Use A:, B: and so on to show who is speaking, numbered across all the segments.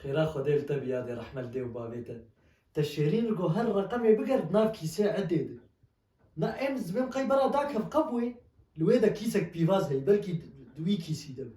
A: Xêra Xwedê li te bi yadê rehme li dê û bavê te. Te şêrîn li go her reqemê biger di nav kîsê edê de. Na em zimêm qey bera dak hev qe bûyê li wê de kîsek pîvaz heye belkî di wî kîsî de be.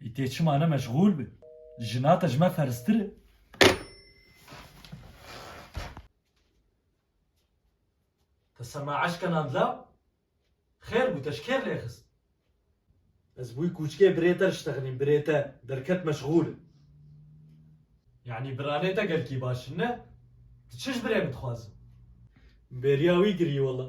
A: Îtê çima ne meşgûl bi? Jina te ji me ferstir e. Te sema eşke nandla? Xêr bû te ji kê rêxist? Ez bûy kûçkê birê te diştexinîm birê te derket meşgûl e. Yanî biranê te gelkî baş in ne? Tu çi ji birê min dixwazî? Min bêriya wî kirî wela.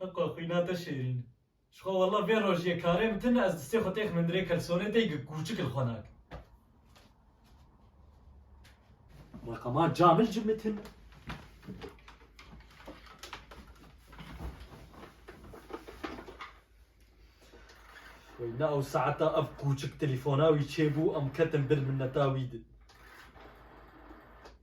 A: Heqa xwîna te şêrîn. Ji xwe walla vê rojê karê min tune ez distê xwe tê xmindirê kelsonê tê gi kûçik li xwe nakim. Reqama camil ji min tune. Xwîna ew saeta ev kûçik telefona wî çêbû em ketin bir minneta wî di.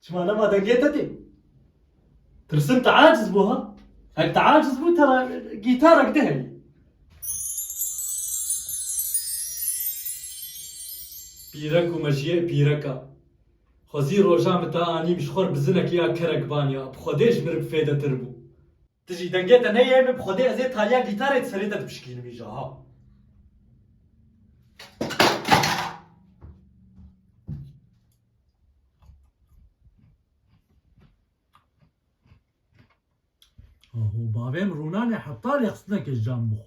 A: Çima nema dengê te tê? Tirsim te aciz bû ha? Hek te aciz bû te gîtarek dihelî. Pîrek û mejiyê pîreka. Xwezî roja min te anîm ji xwe bi zinekî ya kerek vaniya bi xwedê ji min re bi fêdetir bû. Ti jî dengê te neyê min bi xwedê ez ê taliya gîtarê di serê te dipişkînim îja ha. Aho bavê min rûnanê heta lê xistineke ji can bixwe.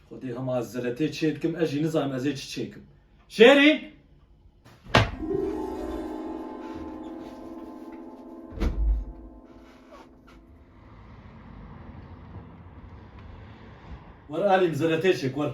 A: Xwedê hema ez zeletê çê dikim ez jî nizanim ez ê çi çê kim. Şêrîn! Were alîm zeletê çêk were.